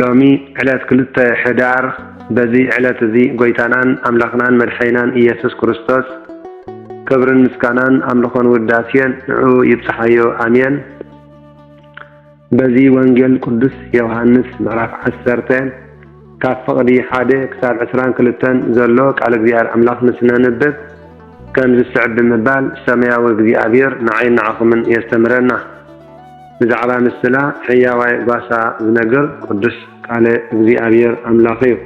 ሎሚ ዕለት ክልተ ሕዳር በዚ ዕለት እዚ ጎይታናን ኣምላኽናን መድሐይናን ኢየሱስ ክርስቶስ ክብርን ምስጋናን ኣምልኾን ውዳሴን ንዑ ይብጽሓዮ ኣሜን። በዚ ወንጌል ቅዱስ ዮሐንስ ምዕራፍ ዓሰርተ ካብ ፍቕዲ ሓደ ክሳብ ዕስራን ክልተን ዘሎ ቃል እግዚኣብሔር ኣምላኽ ንስነንብብ ከምዚ ዝስዕብ ብምባል ሰማያዊ እግዚኣብሔር ንዓይን ንዓኹምን የስተምረና። ብዛዕባ ንስላ ሕያዋይ ጓሳ ዝነግር ቅዱስ ቃለ እግዚኣብሔር ኣምላኽ እዩ።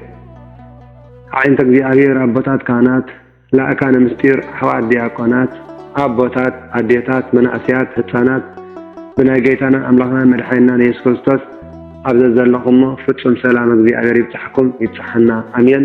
ኣዒንተ እግዚኣብሔር ኣቦታት ካህናት፣ ላእካነ ምስጢር፣ ኣሕዋት ዲያቆናት፣ ኣቦታት፣ ኣዴታት፣ መናእሰያት፣ ህጻናት ብናይ ገይታናን ኣምላኽናን መድሓኒናን የሱስ ክርስቶስ ኣብ ዘዘለኹሞ ፍጹም ሰላም እግዚኣብሔር ይብጻሕኩም ይብጻሓና ኣሜን።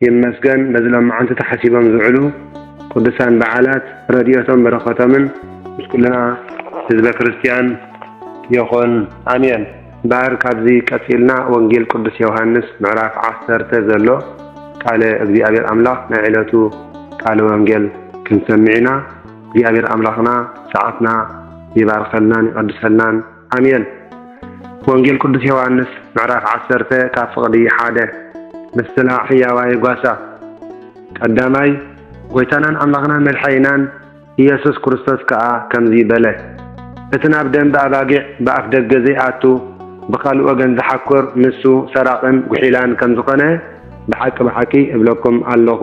ይመስገን በዚ ሎማዓንቲ ተሓሲቦም ዝውዕሉ ቅዱሳን በዓላት ረድኤቶም በረከቶምን ምስ ኩልና ህዝበ ክርስትያን ይኹን ኣሜን። እምበኣር ካብዚ ቀጺልና ወንጌል ቅዱስ ዮውሃንስ ምዕራፍ ዓሰርተ ዘሎ ቃለ እግዚኣብሔር ኣምላኽ ናይ ዕለቱ ቃለ ወንጌል ክንሰምዕ ኢና። እግዚኣብሔር ኣምላኽና ሰዓትና ይባርከልናን ይቀድሰልናን። ኣሜን። ወንጌል ቅዱስ ዮሃንስ ምዕራፍ ዓሰርተ ካብ ፍቕዲ ሓደ ምስላ ሕያዋይ ጓሳ ቀዳማይ ጐይታናን ኣምላኽናን መድሓኒናን ኢየሱስ ክርስቶስ ከኣ ከምዚ በለ፣ እቲ ናብ ደምበ ኣባጊዕ ብኣፍ ደገ ዘይኣቱ ብኻልእ ወገን ዝሓኵር ንሱ ሰራቕን ጒሒላን ከም ዝኾነ ብሓቂ ብሓቂ እብለኩም ኣሎኹ።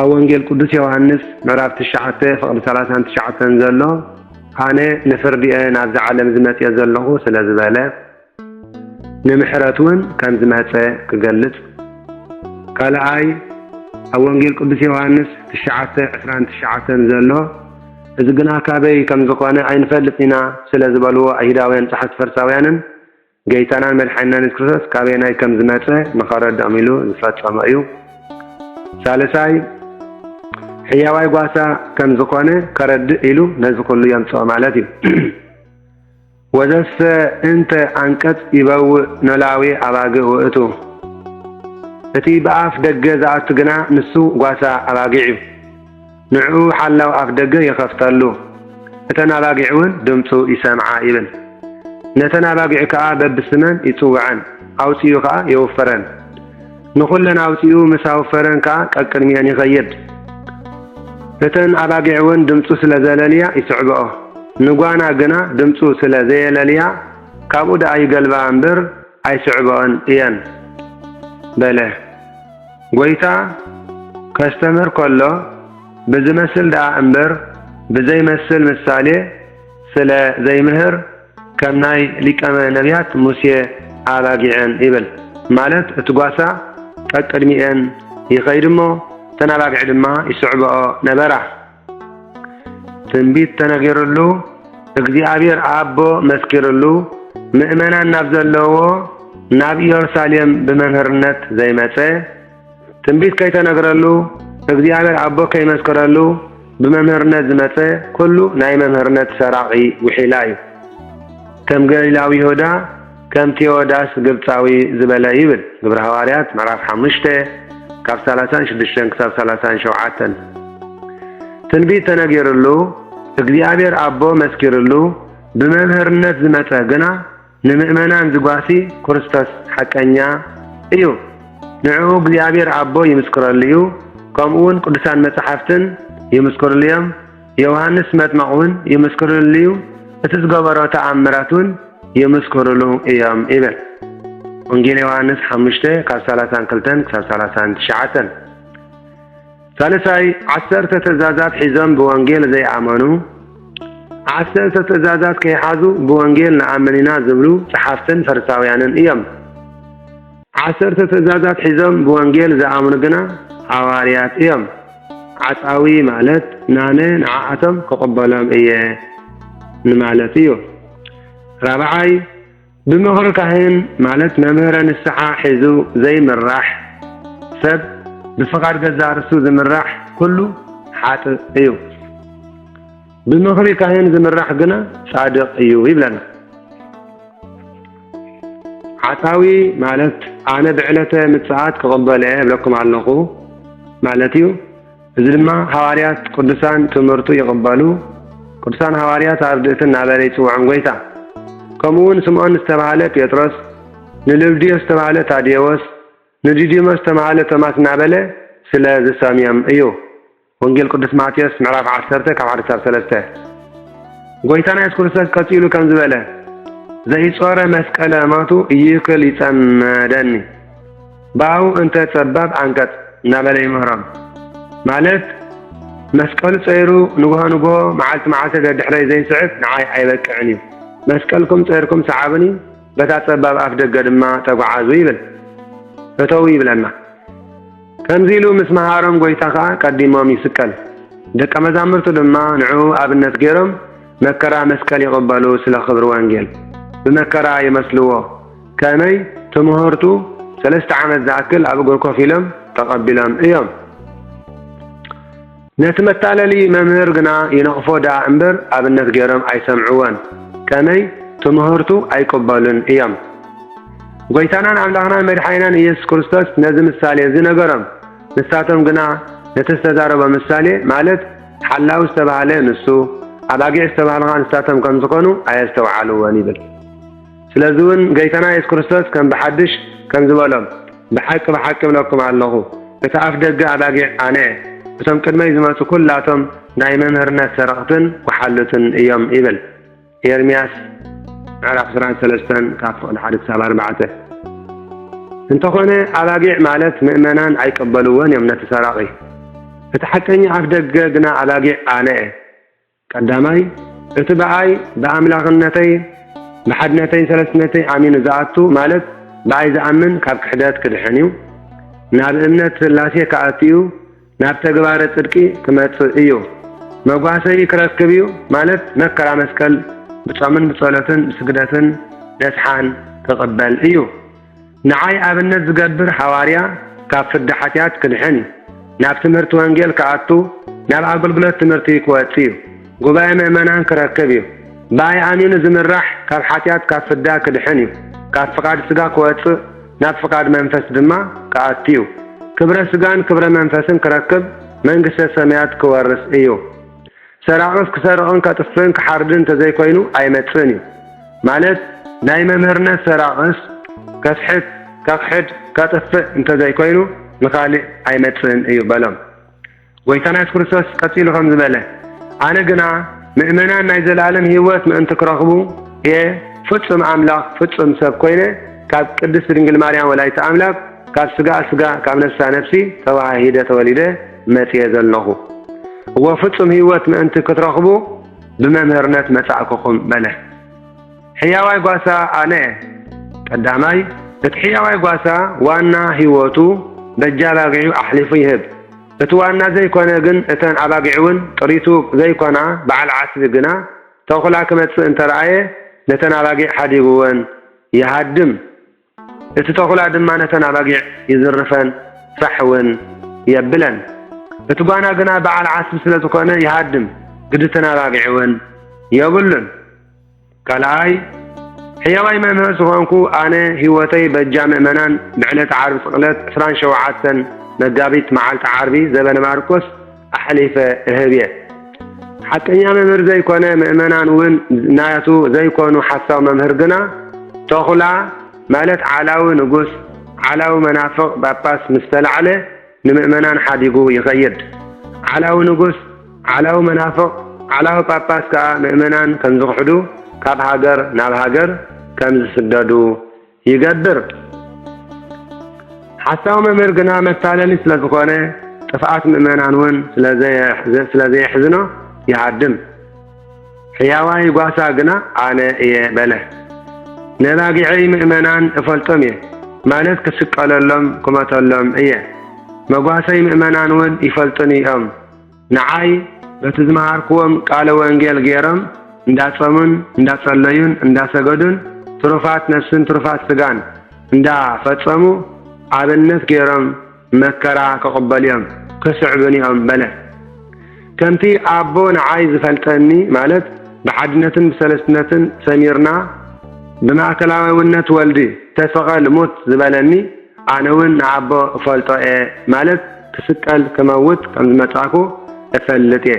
ኣብ ወንጌል ቅዱስ ዮሃንስ ምዕራፍ ትሽዓተ ፍቕዲ ሰላሳን ትሽዓተን ዘሎ ኣነ ንፍርዲ'የ ናብዚ ዓለም ዝመጽኤ ዘለኹ ስለ ዝበለ ንምሕረት እውን ከም ዝመጸ ክገልጽ ካልኣይ ኣብ ወንጌል ቅዱስ ዮሃንስ ትሽዓተ ዕስራን ትሽዓተን ዘሎ እዚ ግና ካበይ ከም ዝኾነ ኣይንፈልጥ ኢና ስለ ዝበልዎ ኣይሁዳውያን ጸሓፍቲ ፈርሳውያንን ገይታናን መድሓኒናን የሱስ ክርስቶስ ካበየናይ ከም ዝመጸ ንኸረድኦም ኢሉ ዝፈጸሞ እዩ። ሳልሳይ ሕያዋይ ጓሳ ከም ዝኾነ ከረድእ ኢሉ ነዚ ኩሉ የምጽኦ ማለት እዩ። ወዘሰ እንተ ኣንቀጽ ይበውእ ኖላዊ ኣባግእ ውእቱ እቲ ብኣፍ ደገ ዝኣቱ ግና ንሱ ጓሳ ኣባጊዕ እዩ። ንዕኡ ሓላው ኣፍ ደገ ይኸፍተሉ፣ እተን ኣባጊዕውን ድምፁ ይሰምዓ ይብል። ነተን ኣባጊዑ ከኣ በብስመን ይጽውዐን፣ ኣውጺኡ ከኣ የውፍረን። ንኹለን ኣውጺኡ ምስ ኣውፈረን ከኣ ቀቅድሚኤን ይኸይድ። እተን ኣባጊዕውን ድምፁ ስለ ዘለልያ ይስዕብኦ። ንጓና ግና ድምፁ ስለ ዘየለልያ ካብኡ ደኣ ይገልብኣ እምበር ኣይስዕብኦን እየን በለ። ጐይታ ከስተምህር ከሎ ብዚመስል ደኣ እምበር ብዘይመስል ምሳሌ ስለ ዘይምህር ከም ናይ ሊቀመ ነብያት ሙሴ ኣባጊዐን ይብል ማለት እቲ ጓሳ ቀቅድሚኤን ይኸይድ እሞ እተን ኣባጊዕ ድማ ይስዕብኦ ነበራ። ትንቢት ተነጊርሉ፣ እግዚኣብሔር ኣቦ መስኪርሉ፣ ምእመናን ናብ ዘለዎ ናብ ኢየሩሳሌም ብመምህርነት ዘይመጸ፣ ትንቢት ከይተነግረሉ፣ እግዚኣብሔር ኣቦ ከይመስክረሉ ብመምህርነት ዝመጸ ኩሉ ናይ መምህርነት ሰራቒ ውሒላ እዩ። ከም ገሊላዊ ይሁዳ ከም ቴዎዳስ ግብጻዊ ዝበለ ይብል ግብረ ሃዋርያት ምዕራፍ ሓሙሽተ ካብ ሰላሳን ሽዱሽተን ክሳብ ሰላሳን ሸውዓተን ትንቢት ተነጊርሉ እግዚኣብሔር ኣቦ መስኪርሉ ብመምህርነት ዝመጸ ግና ንምእመናን ዝጓሲ ክርስቶስ ሓቀኛ እዩ ንዕኡ እግዚኣብሔር ኣቦ ይምስክረሉ እዩ ከምኡውን ቅዱሳን መጻሕፍትን ይምስክርሉ እዮም ዮውሃንስ መጥመቕ እውን ይምስክርሉ እዩ፣ እቲ ዝገበሮ ተኣምራት እውን ይምስክርሉ እዮም ይብል። ወንጌል ዮሃንስ ሓሙሽተ ካብ ሰላሳን ክልተን ክሳብ ሰላሳን ትሽዓተን ሳልሳይ ዓሰርተ ትእዛዛት ሒዞም ብወንጌል ዘይኣመኑ ዓሰርተ ትእዛዛት ከይሓዙ ብወንጌል ንኣምን ኢና ዝብሉ ጸሓፍትን ፈሪሳውያንን እዮም። ዓሰርተ ትእዛዛት ሒዞም ብወንጌል ዝኣምኑ ግና ሃዋርያት እዮም። ዓጻዊ ማለት ናነ ንዓኣቶም ክቕበሎም እየ ንማለት እዩ። ራብዓይ፣ ብምኽሪ ካህን ማለት መምህረ ንስሓ ሒዙ ዘይምራሕ ሰብ ብፍቓድ ገዛእ ርእሱ ዝምራሕ ኩሉ ሓጥእ እዩ። ብምኽሪ ካህን ዝምራሕ ግና ጻድቕ እዩ ይብለና። ሓሳዊ ማለት ኣነ ብዕለተ ምጽኣት ክቕበሎ እየ እብለኩም ኣለኹ ማለት እዩ። እዚ ድማ ሃዋርያት ቅዱሳን ትምህርቱ ይቕበሉ ቅዱሳን ሃዋርያት ኣርድእቲ እናበለ ይጽውዖም ጐይታ። ከምኡውን ስምዖን ዝተባህለ ጴጥሮስ፣ ንልብድዮስ ዝተባህለ ታዴዎስ፣ ንዲዲሞስ ዝተባህለ ቶማስ እናበለ ስለ ዝሰምዮም እዩ። ወንጌል ቅዱስ ማቴዎስ ምዕራፍ ዓሰርተ ካብ ሓደ ክሳብ ሰለስተ ጎይታና የሱስ ክርስቶስ ቀጺሉ ከምዚ በለ ዘይጾረ መስቀለ ማቱ እይክል ይጸመደኒ ባው እንተ ጸባብ ኣንቀጽ እናበለ ይምህሮም ማለት መስቀሉ ጸይሩ ንግሆ ንግሆ መዓልቲ መዓልቲ ደድሕረይ ዘይስዕብ ንዓይ ኣይበቅዕን እዩ መስቀልኩም ጸይርኩም ሰዓብኒ በታ ጸባብ ኣፍ ደገ ድማ ተጓዓዙ ይብል እተው ይብለና ከምዚ ኢሉ ምስ መሃሮም ጐይታ ኸኣ ቀዲሞም ይስቀል፣ ደቀ መዛሙርቱ ድማ ንዕኡ ኣብነት ገይሮም መከራ መስቀል ይቕበሉ ስለ ኽብሪ ወንጌል ብመከራ ይመስልዎ ከመይ ትምሆርቱ ሰለስተ ዓመት ዝኣክል ኣብ እግሩ ኮፍ ኢሎም ተቐቢሎም እዮም። ነቲ መታለሊ መምህር ግና ይነቕፎ ደኣ እምበር ኣብነት ገይሮም ኣይሰምዕዎን፣ ከመይ? ትምህርቱ ኣይቅበሉን እዮም። ጐይታናን ኣምላኽናን መድሓኒናን ኢየሱስ ክርስቶስ ነዚ ምሳሌ እዚ ነገሮም፣ ንሳቶም ግና ነቲ ዝተዛረቦ ምሳሌ፣ ማለት ሓላዊ ዝተባህለ ንሱ፣ ኣባጊዕ ዝተባህልኻ ንሳቶም ከም ዝኾኑ ኣየስተውዓልዎን ይብል። ስለዚውን ገይታና የሱስ ክርስቶስ ከም ብሓድሽ ከምዚ በሎም፣ ብሓቂ ብሓቂ እብለኩም ኣሎኹ፣ እቲ ኣፍ ደገ ኣባጊዕ ኣነ እየ፣ እቶም ቅድመይ ዝመጹ ኩላቶም ናይ መምህርነት ሰረቕትን ወሓሉትን እዮም ይብል። ኤርምያስ ምዕራፍ ዕስራን ሰለስተን ካብ ፍቕዲ ሓደ ክሳብ ኣርባዕተ እንተኾነ ኣባጊዕ ማለት ምእመናን ኣይቀበልዎን እዮም ነቲ ሰራቒ እቲ ሓቀኛ ኣፍ ደገ ግና ኣባጊዕ ኣነ እየ ቀዳማይ፣ እቲ ብኣይ፣ ብኣምላኽነተይ፣ ብሓድነተይን ሰለስትነተይን ኣሚኑ ዝኣቱ፣ ማለት ብኣይ ዝኣምን ካብ ክሕደት ክድሕን እዩ፣ ናብ እምነት ሥላሴ ክኣቱ እዩ፣ ናብ ተግባረ ጽድቂ ክመጽእ እዩ፣ መጓሰዪ ክረክብ እዩ፣ ማለት መከራ መስቀል ብጾምን ብጸሎትን ብስግደትን ነስሓን ክቕበል እዩ። ንዓይ ኣብነት ዝገብር ሓዋርያ ካብ ፍዳ ሓጢኣት ክድሕን፣ ናብ ትምህርቲ ወንጌል ክኣቱ፣ ናብ ኣገልግሎት ትምህርቲ ክወጽእ እዩ። ጉባኤ ምእመናን ክረክብ እዩ። ብኣይ ኣሚኑ ዝምራሕ ካብ ሓጢኣት ካብ ፍዳ ክድሕን እዩ። ካብ ፍቓድ ስጋ ክወጽእ ናብ ፍቓድ መንፈስ ድማ ክኣቱ እዩ። ክብረ ስጋን ክብረ መንፈስን ክረክብ መንግስተ ሰማያት ክወርስ እዩ። ሰራቕስ ክሰርቕን ከጥፍእን ክሓርድን እንተዘይኮይኑ ኣይመጽእን እዩ ማለት ናይ መምህርነት ሰራቕስ ከስሕት ከኽሕድ ከጥፍእ እንተዘይኮይኑ ንኻሊእ ኣይመጽእን እዩ በሎም። ጐይታና የሱስ ክርስቶስ ቀጺሉ ከምዚ በለ፣ ኣነ ግና ምእመናን ናይ ዘለኣለም ህይወት ምእንቲ ክረኽቡ እየ ፍጹም ኣምላኽ ፍጹም ሰብ ኮይነ ካብ ቅድስቲ ድንግል ማርያም ወላዲተ ኣምላክ ካብ ስጋኣ ስጋ ካብ ነፍሳ ነፍሲ ተወሃሂደ ተወሊደ መጺኤ ዘሎኹ። እወ ፍጹም ህይወት ምእንቲ ክትረኽቡ ብመምህርነት መጻእኩኹም በለ። ሕያዋይ ጓሳ ኣነ እየ። ቀዳማይ፣ እቲ ሕያዋይ ጓሳ ዋና ህይወቱ በጃ ኣባጊዑ ኣሕሊፉ ይህብ። እቲ ዋና ዘይኮነ ግን እተን ኣባጊዕውን ጥሪቱ ዘይኮና በዓል ዓስቢ ግና ተኹላ ክመጽእ እንተረኣየ ነተን ኣባጊዕ ሓዲጉወን ይሃድም። እቲ ተዅላ ድማ ነተን ኣባጊዕ ይዝርፈን ፋሕ እውን የብለን። እቲ ጓና ግና በዓል ዓስቢ ስለ ዝዀነ ይሃድም፣ ግድትን ኣባጊዕ እውን የብሉን። ካልኣይ፣ ሕያዋይ መምህር ዝዀንኩ ኣነ ህይወተይ በጃ ምእመናን ብዕለተ ዓርቢ ስቕለት ዕስራን ሸውዓተን መጋቢት መዓልቲ ዓርቢ ዘበነ ማርቆስ ኣሕሊፈ እህብየ። ሓቀኛ መምህር ዘይኮነ ምእመናን ውን ናቱ ዘይኮኑ ሓሳዊ መምህር ግና ቶኹላ ማለት ዓላዊ ንጉስ ዓላዊ መናፍቅ ጳጳስ ምስ ተላዕለ ንምእመናን ሓዲጉ ይኸይድ ዓላዊ ንጉስ ዓላዊ መናፍቅ ዓላዊ ጳጳስ ከኣ ምእመናን ከምዝኽሕዱ ካብ ሃገር ናብ ሃገር ከምዝስደዱ ይገብር። ሓሳዊ መምህር ግና መታለሊ ስለ ዝኾነ ጥፍኣት ምእመናን እውን ስለ ዘየሕዝኖ ይሃድም። ሕያዋይ ጓሳ ግና ኣነ እየ በለ። ነባጊዐይ ምእመናን እፈልጦም እየ፣ ማለት ክስቀለሎም ክመተሎም እየ። መጓሰይ ምእመናን እውን ይፈልጡኒ እዮም። ንዓይ በቲ ዝመሃርክዎም ቃለ ወንጌል ገይሮም እንዳጸሙን እንዳጸለዩን እንዳሰገዱን ትሩፋት ነፍስን ትሩፋት ስጋን እንዳ ፈጸሙ ኣብነት ገይሮም መከራ ክቕበሉዮም ክስዕቡንዮም በለ። ከምቲ ኣቦ ንዓይ ዝፈልጠኒ ማለት ብሓድነትን ብሰለስትነትን ሰሚርና ብማእከላዊውነት ወልድ ተሰቐል ሙት ዝበለኒ፣ ኣነ ውን ንኣቦ እፈልጦ እየ ማለት ክስቀል ክመውት ከም ዝመጻእኩ እፈልጥ እየ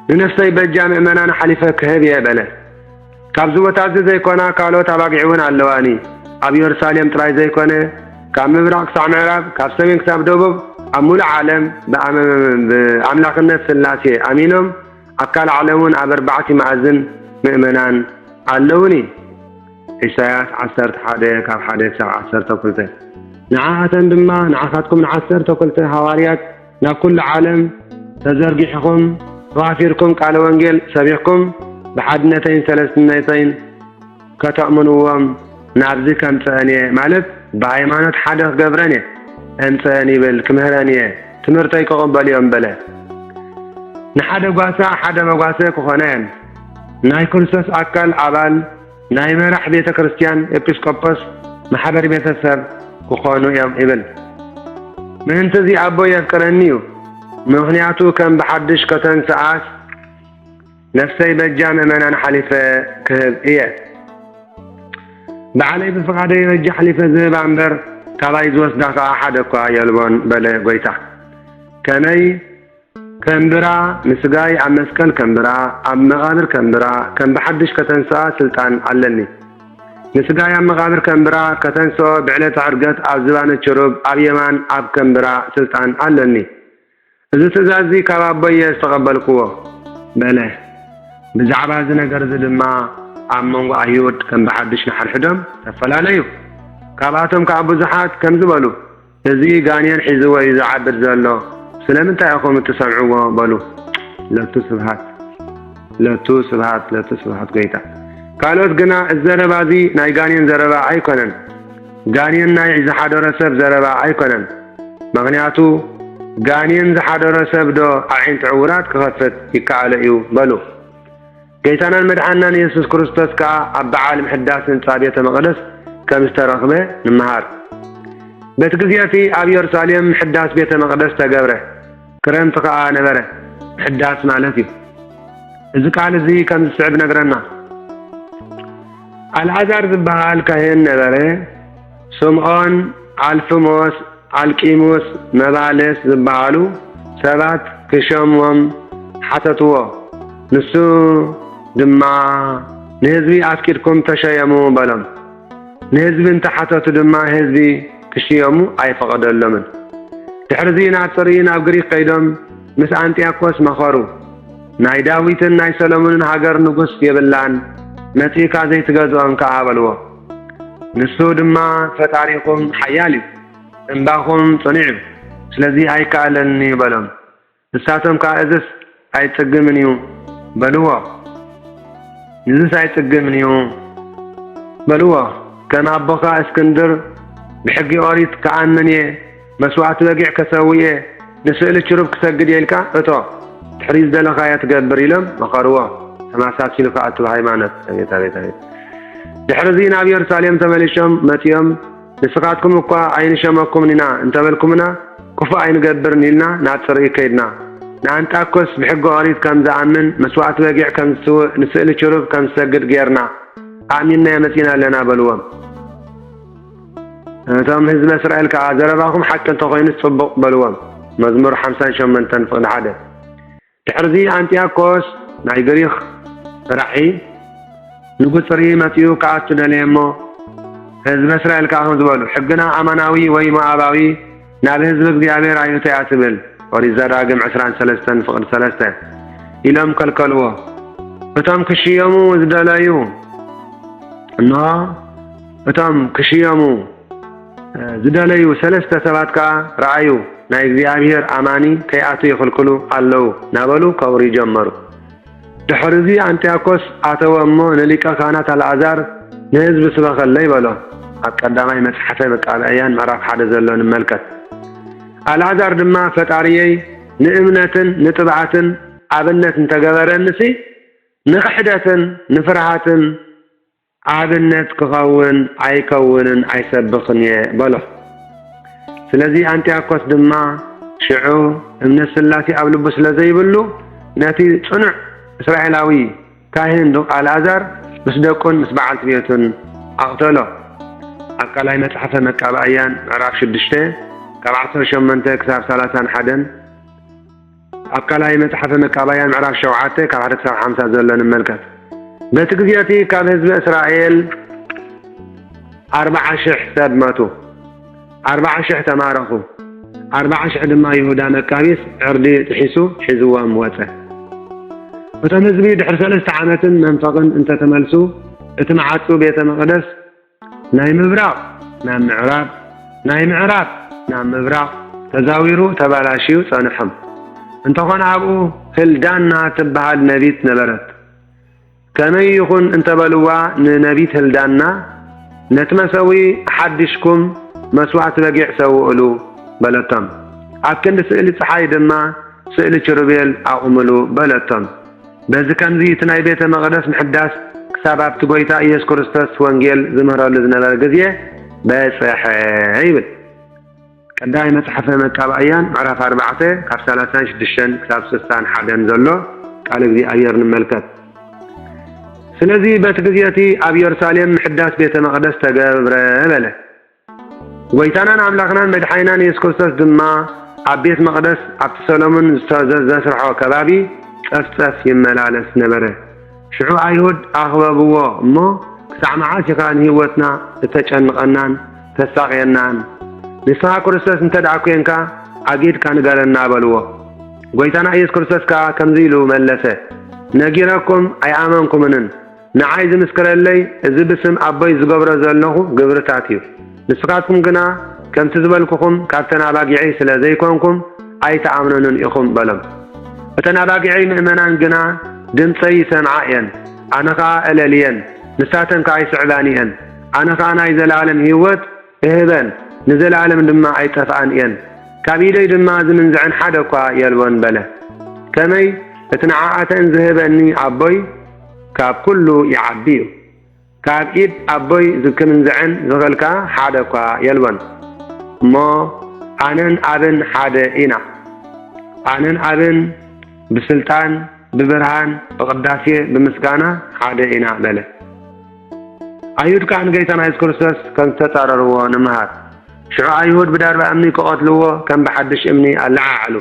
ንነፍሰይ በጃ ምእመናን ሓሊፈ ክህብ እየ በለ ካብዚ ቦታ እዚ ዘይኮና ካልኦት ኣባጊዕ ውን ኣለዋኒ ኣብ ዮርሳሌም ጥራይ ዘይኮነ ካብ ምብራቅ ክሳዕ ምዕራብ ካብ ሰሜን ክሳብ ደቡብ ኣብ ምሉእ ዓለም ብኣምላክነት ስላሴ ኣሚኖም ኣብ ካልእ ዓለም ውን ኣብ ኣርባዕቲ መኣዝን ምእመናን ኣለውኒ። ኢሳያስ ዓሰርተ ሓደ ካብ ሓደ ክሳብ ዓሰርተ ክልተ ንዓኣተን ድማ ንዓኻትኩም ንዓሰርተ ክልተ ሃዋርያት ናብ ኩሉ ዓለም ተዘርጊሕኹም ተዋፊርኩም ቃለ ወንጌል ሰቢኽኩም ብሓድነተይን ሰለስትነተይን ከተእምንዎም ናብዚ ከምጸአን እየ ማለት ብሃይማኖት ሓደ ክገብረን እየ እምጸአን ይብል ክምህረን እየ ትምህርተይ ክቕበሉ እዮም በለ ንሓደ ጓሳ ሓደ መጓሰ ክኾነን ናይ ክርስቶስ ኣካል ኣባል ናይ መራሕ ቤተ ክርስቲያን ኤጲስቆጶስ ማሕበር ቤተ ሰብ ክኾኑ እዮም ይብል። ምእንቲ እዚ ኣቦ የፍቅረኒ እዩ፣ ምኽንያቱ ከም ብሓድሽ ከተንስኣስ ነፍሰይ በጃ ምእመናን ሓሊፈ ክህብ እየ። ባዕለይ ብፍቓደይ በጃ ሓሊፈ ዝህባ እምበር ካባይ ዝወስዳ ከኣ ሓደ እኳ የልቦን በለ ጐይታ። ከመይ ከምብራ ንስጋይ ኣብ መስቀል ከምብራ ኣብ መቃብር ከምብራ ከም ብሓድሽ ከተንስኣ ስልጣን ኣለኒ ንስጋይ ኣብ መቃብር ከምብራ ከተንስኦ ብዕለተ ዕርገት ኣብ ዝባነ ችሩብ ኣብ የማን ኣብ ከምብራ ስልጣን ኣለኒ እዚ ትእዛዝ እዚ ካብ ኣቦይ እየ ዝተቀበልክዎ በለ ብዛዕባ እዚ ነገር እዚ ድማ ኣብ መንጎ ኣይሁድ ከም ብሓድሽ ንሓድሕዶም ተፈላለዩ ካብኣቶም ከኣ ብዙሓት ከምዚ በሉ እዚ ጋኔን ሒዝዎ እዩ ዝዓብድ ዘሎ ስለምንታይ ኢኹም እትሰምዕዎ በሉ ለቱ ስብሃት ለቱ ስብሃት ለቱ ስብሃት ጎይታ ካልኦት ግና እዚ ዘረባ እዚ ናይ ጋኔን ዘረባ ኣይኮነን ጋኔን ናይ ዝሓደሮ ሰብ ዘረባ ኣይኮነን ምክንያቱ ጋኔን ዝሓደሮ ሰብ ዶ ኣዒንቲ ዕውራት ክኸፍት ይከኣሎ እዩ በሉ ጌታናን መድሓንናን የሱስ ክርስቶስ ከኣ ኣብ በዓል ምሕዳስ ህንጻ ቤተ መቕደስ ከም ዝተረኽበ ንመሃር። በቲ ግዜ እቲ ኣብ የሩሳሌም ምሕዳስ ቤተ መቕደስ ተገብረ፣ ክረምቲ ከኣ ነበረ። ምሕዳስ ማለት እዩ። እዚ ቃል እዚ ከም ዝስዕብ ነግረና። ኣልኣዛር ዝበሃል ካህን ነበረ። ስምዖን፣ ኣልፍሞስ፣ ኣልቂሙስ፣ መባልስ ዝበሃሉ ሰባት ኪሸሞም ሓተትዎ። ንሱ ድማ፣ ንህዝቢ ኣፍቂድኩም ተሸየሙ በሎም። ንህዝቢ እንተ ሓተቱ ድማ ህዝቢ ኪሽየሙ ኣይፈቐደሎምን። ድሕርዚ ናብ ጽርይ ናብ ግሪኽ ከይዶም ምስ ኣንጥያኮስ መኸሩ። ናይ ዳዊትን ናይ ሰሎሞንን ሃገር ንጉስ የብላን፣ መጺእካ ዘይትገዝኦም ከኣ በልዎ። ንሱ ድማ ፈጣሪኹም ሓያል እዩ፣ እምባኹም ጽኑዕ እዩ፣ ስለዚ ኣይከኣለንን እዩ በሎም። ንሳቶም ከኣ እዝስ ኣይጽግምን እዩ በልዎ። ንዝስ ኣይጽግምን እዩ በልዎ። ከም ኣቦኻ እስክንድር ብሕጊ ኦሪት ክኣምን እየ መስዋእቲ በጊዕ ከሰውእ እየ፣ ንስእሊ ችሩብ ክሰግድ እየ ኢልካ እቶ፣ ድሕሪ ዝደለኻዮ ትገብር ኢሎም መኸርዎ። ተመሳሲሉ ከኣ እቲ ብሃይማኖት። ኣቤት! ኣቤት! ኣቤት! ድሕርዚ ናብ የሩሳሌም ተመሊሾም መጺኦም፣ ንስኻትኩም እኳ ኣይንሸመኩምን ኢና እንተበልኩምና፣ ክፉእ ኣይንገብርን ኢልና ናብ ጽርግይ ከይድና። ንኣንጣክዮስ ብሕጊ ኦሪት ከም ዝኣምን፣ መስዋእቲ በጊዕ ከም ዝስውእ፣ ንስእሊ ችሩብ ከም ዝሰግድ ገይርና፣ ኣእሚንናዮ መጺእና ኣለና በልዎም። ነቶም ህዝበ እስራኤል ከኣ፣ ዘረባኹም ሓቂ እንተ ዀይኑስ ጽቡቕ፣ በልዎም። መዝሙር ሓምሳን ሸሞንተን ፍቕዲ ሓደ ድሕርዚ ኣንጥያኮስ ናይ ግሪኽ ራሒ ንጉጽሪ መጺኡ ክኣቱ ደለየ እሞ፣ ህዝበ እስራኤል ከኣ ከምዚ በሉ፣ ሕግና ኣማናዊ ወይ ሞኣባዊ፣ ናብ ህዝቢ እግዚኣብሔር ኣይእቶ እያ ትብል ኦሪት ዘዳግም ዕስራን ሰለስተን ፍቕድ ሰለስተ ኢሎም ከልከልዎ እቶም ክሽየሙ ዝደለዩ እንሆ እቶም ክሽየሙ ዝደለዩ ሰለስተ ሰባት ከኣ ረኣዩ ናይ እግዚኣብሔር ኣማኒ ከይኣቱ ይኽልክሉ ኣለዉ ናበሉ ከውርዩ ጀመሩ ድሕርዚ ኣንጥያኮስ ኣተወ እሞ ንሊቀ ኻህናት ኣልኣዛር፣ ንህዝቢ ስበኸለይ በሎ። ኣብ ቀዳማይ መጽሓፈ መቃብእያን ምዕራፍ ሓደ ዘሎ ንመልከት። ኣልኣዛር ድማ ፈጣርየይ ንእምነትን ንጥብዓትን ኣብነት እንተገበረኒሲ ንኽሕደትን ንፍርሃትን ኣብነት ክኸውን ኣይከውንን ኣይሰብኽን'የ በሎ። ስለዚ ኣንጥያኮስ ድማ ሽዑ እምነት ስላሴ ኣብ ልቡ ስለ ዘይብሉ ነቲ ጽኑዕ እስራኤላዊ ካህን ዱቅ ኣልኣዛር ምስ ደቁን ምስ በዓልቲ ቤቱን ኣቕተሎ። ኣብ ካልኣይ መጽሓፈ መቃብኣያን ምዕራፍ ሽዱሽተ ካብ ዓሰርተ ሸሞንተ ክሳብ ሰላሳን ሓደን፣ ኣብ ካልኣይ መጽሓፈ መቃብያን ምዕራፍ ሸውዓተ ካብ ሓደ ክሳብ ሓምሳ ዘሎ ንመልከት። በቲ ግዜ እቲ ካብ ህዝበ እስራኤል ኣርብዓ ሽሕ ሰብ መቱ፣ ኣርብዓ ሽሕ ተማረኹ፣ ኣርብዓ ሽሕ ድማ ይሁዳ መቃቢስ ዕርዲ ጥሒሱ ሒዝዎም ወጸ። እቶም ህዝቢ ድሕሪ ሰለስተ ዓመትን መንፈቕን እንተ ተመልሱ፣ እቲ መዓጹ ቤተ መቕደስ ናይ ምብራቕ ናብ ምዕራብ፣ ናይ ምዕራብ ናብ ምብራቕ ተዛዊሩ ተባላሽዩ ጸንሖም። እንተኾነ ኣብኡ ህልዳና ትበሃል ነቢት ነበረት። ከመይ ይኹን እንተበልዋ ንነቢት ህልዳና፣ ነቲ መሰውኢ ኣሓዲሽኩም መስዋእቲ በጊዕ ሰውእሉ፣ በለቶም። ኣብ ክንዲ ስእሊ ጸሓይ ድማ ስእሊ ችሩቤል ኣቑምሉ፣ በለቶም። በዚ ከምዚ እቲ ናይ ቤተ መቕደስ ምሕዳስ ክሳብ ኣብቲ ጐይታ ኢየሱስ ክርስቶስ ወንጌል ዝምህረሉ ዝነበረ ግዜ በጽሐ ይብል። ቀዳማይ መጽሓፈ መቃብኣያን ምዕራፍ ኣርባዕተ ካብ ሰላሳን ሽዱሽተን ክሳብ ስሳን ሓደን ዘሎ ቃል እግዚኣብሔር ንመልከት። ስለዚ በቲ ግዜ እቲ ኣብ የሩሳሌም ምሕዳስ ቤተ መቕደስ ተገብረ በለ። ጐይታናን ኣምላኽናን መድሓኒናን የሱስ ክርስቶስ ድማ ኣብ ቤት መቕደስ ኣብቲ ሰሎሞን ዘስርሖ ከባቢ ጸፍጸፍ ይመላለስ ነበረ። ሽዑ ኣይሁድ ኣኽበብዎ እሞ ክሳዕ መዓስ ኢኻ ንህይወትና እተጨንቐናን ተሳቕየናን? ንስኻ ክርስቶስ እንተ ደኣ ኴንካ ኣጊድካ ንገረና በልዎ። ጐይታና ኢየሱስ ክርስቶስ ከኣ ከምዚ ኢሉ መለሰ፣ ነጊረኩም ኣይኣመንኩምንን፣ ንዓይ ዝምስክረለይ እዚ ብስም ኣቦይ ዝገብሮ ዘለኹ ግብርታት እዩ። ንስኻትኩም ግና ከምቲ ዝበልኩኹም ካብተን ኣባጊዐይ ስለ ዘይኰንኩም ኣይትኣምኑንን ኢኹም በሎም። እተን ኣባጊዐይ ምእመናን ግና ድምጸይ ይሰምዓ እየን፣ ኣነ ኸኣ እለልየን፣ ንሳተን ከኣ ይስዕባኒ እየን። ኣነ ኸኣ ናይ ዘለኣለም ህይወት እህበን፣ ንዘለኣለም ድማ ኣይጠፍኣን እየን፣ ካብ ኢደይ ድማ ዚምንዝዐን ሓደ እኳ የልቦን በለ። ከመይ፣ እቲ ንዓኣተን ዚህበኒ ኣቦይ ካብ ኵሉ ይዓቢ እዩ፣ ካብ ኢድ ኣቦይ ዚምንዝዐን ዚኽእል ከኣ ሓደ እኳ የልቦን። እሞ ኣነን ኣብን ሓደ ኢና፣ ኣነን ኣብን ብስልጣን፣ ብብርሃን፣ ብቅዳሴ፣ ብምስጋና ሓደ ኢና በለ። ኣይሁድ ከኣ ንጌታና የሱስ ክርስቶስ ከም ዝተጻረርዎ ንምሃር። ሽዑ ኣይሁድ ብዳርባ እምኒ ክቐትልዎ ከም ብሓድሽ እምኒ ኣለዓዓሉ።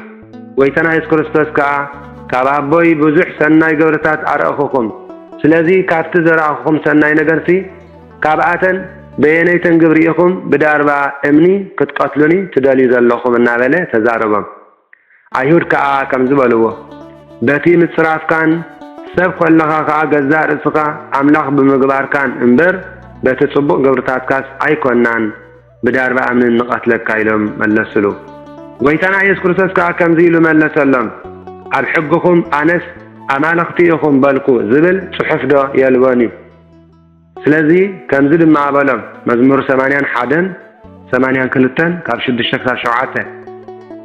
ጎይታና የሱስ ክርስቶስ ከኣ ካብ ኣቦይ ብዙሕ ሰናይ ግብርታት ኣርኣኹኹም፣ ስለዚ ካብቲ ዘርኣኹኹም ሰናይ ነገርሲ ካብኣተን በየነይተን ግብሪ ኢኹም ብዳርባ እምኒ ክትቀትሉኒ ትደልዩ ዘለኹም እናበለ ተዛረቦም። ኣይሁድ ከኣ ከምዚ በልዎ፣ በቲ ምጽራፍካን ሰብ ኰንካ ኸኣ ገዛእ ርእስኻ ኣምላኽ ብምግባርካን እምበር፣ በቲ ጽቡቕ ግብርታትካስ ኣይኰንናን፣ ብዳርባ እምኒ ንቐትለካ ኢሎም መለሱሉ። ጐይታና ኢየሱስ ክርስቶስ ከኣ ከምዚ ኢሉ መለሰሎም፣ ኣብ ሕግኹም ኣነስ ኣማልኽቲ ኢኹም በልኩ ዝብል ጽሑፍዶ የልቦን እዩ? ስለዚ ከምዚ ድማ በሎም፣ መዝሙር ሰማንያን ሓደን ሰማንያን ክልተን ካብ ሽዱሽተ ክሳብ ሸውዓተ።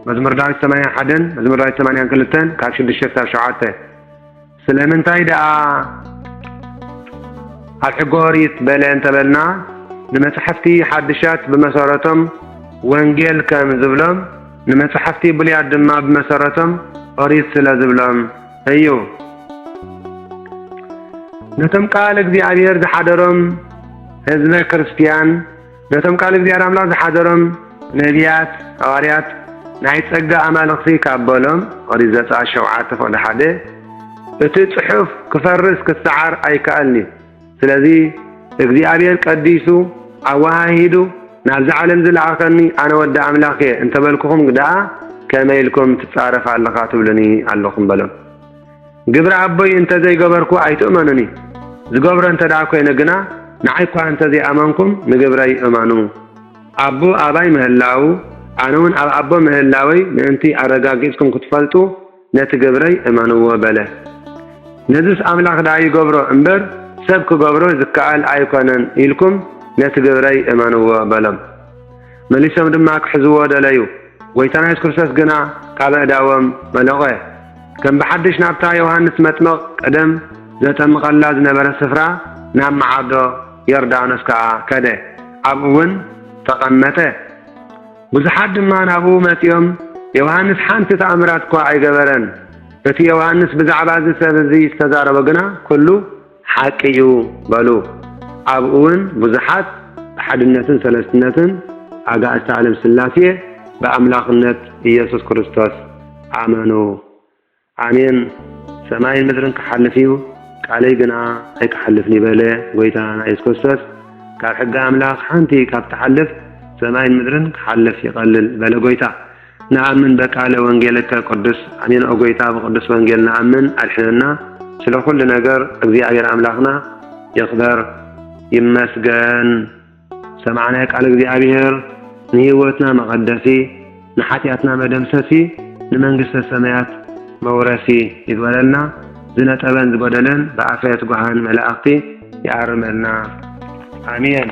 መዝሙር ዳዊት ሰማንያን ሓደን መዝሙር ዳዊት ሰማንያን ክልተን ካብ ሽዱሽተ ክሳብ ሸውዓተ። ስለምንታይ ደኣ ኣብ ሕገ ኦሪት በለ እንተበልና ንመጻሕፍቲ ሓድሻት ብመሰረቶም ወንጌል ከም ዝብሎም ንመጻሕፍቲ ብሉያት ድማ ብመሰረቶም ኦሪት ስለ ዝብሎም እዩ። ነቶም ቃል እግዚኣብሔር ዝሓደሮም ህዝበ ክርስቲያን ነቶም ቃል እግዚኣብሔር ኣምላኽ ዝሓደሮም ነቢያት ሃዋርያት ናይ ጸጋ ኣማልኽቲ ካብ በሎም ኦሪት ዘጸኣት ሸውዓተ ፍቕዲ ሓደ እቲ ጽሑፍ ክፈርስ ክሰዓር ኣይከኣልን'ዩ። ስለዚ እግዚኣብሔር ቀዲሱ ኣወሃሂዱ ናብዚ ዓለም ዝለኣኸኒ ኣነ ወዲ ኣምላኽ እየ እንተበልኩኹም ደኣ ከመይ ኢልኩም ትጻረፍ ኣለኻ ትብሉኒ ኣለኹም በሎም። ግብሪ ኣቦይ እንተ ዘይገበርኩ ኣይትእመኑኒ፣ ዝገብሮ እንተ ደኣ ኮይነ ግና ንዓይ እኳ እንተ ዘይኣመንኩም ንግብረይ እመኑ። ኣቦ ኣባይ ምህላዉ ኣነ እውን ኣብ ኣቦ ምህላወይ ምእንቲ ኣረጋጊጽኩም ክትፈልጡ ነቲ ግብረይ እመንዎ በለ። ነዝስ ኣምላኽ ደኣ ይገብሮ እምበር ሰብ ክገብሮ ዝከኣል ኣይኰነን ኢልኩም ነቲ ግብረይ እመንዎ በሎም። መሊሶም ድማ ክሕዝዎ ደለዩ፣ ጐይታና የሱስ ክርስቶስ ግና ካብ ኣእዳዎም መለቘ። ከም ብሓድሽ ናብታ ዮሃንስ መጥምቕ ቀደም ዘጠምቐላ ዝነበረት ስፍራ ናብ መዓርዶ ዮርዳኖስ ከኣ ከደ፣ ኣብኡውን ተቐመጠ። ብዙሓት ድማ ናብኡ መጺኦም፣ ዮሃንስ ሓንቲ ተኣምራት እኳ ኣይገበረን፣ እቲ ዮሃንስ ብዛዕባ እዚ ሰብ እዚ ዝተዛረቦ ግና ኵሉ ሓቂ እዩ በሉ። ኣብኡውን ብዙሓት ብሓድነትን ሰለስትነትን ኣጋእዝተ ዓለም ሥላሴ ብኣምላኽነት ኢየሱስ ክርስቶስ ኣመኑ። ኣሜን ሰማይን ምድርን ክሓልፍ እዩ ቃለይ ግና ኣይክሓልፍን እዩ በለ ጎይታና የሱስ ክርስቶስ ካብ ሕጊ ኣምላኽ ሓንቲ ካብ ትሓልፍ ሰማይን ምድርን ክሓልፍ ይቐልል በለ ጎይታ ንኣምን በቃለ ወንጌልከ ቅዱስ ኣሜን ኦ ጎይታ ብቅዱስ ወንጌል ንኣምን ኣድሕነና ስለ ኩሉ ነገር እግዚኣብሔር ኣምላኽና ይኽበር ይመስገን ሰማዕናዮ ቃል እግዚኣብሔር ንሕይወትና መቐደሲ ንሓጢኣትና መደምሰሲ ንመንግስተ ሰማያት መውረሲ ይግበረልና ዝነጠበን ዝጎደለን ብኣፈ ትጉሃን መላእኽቲ ይኣርመልና ኣሜን።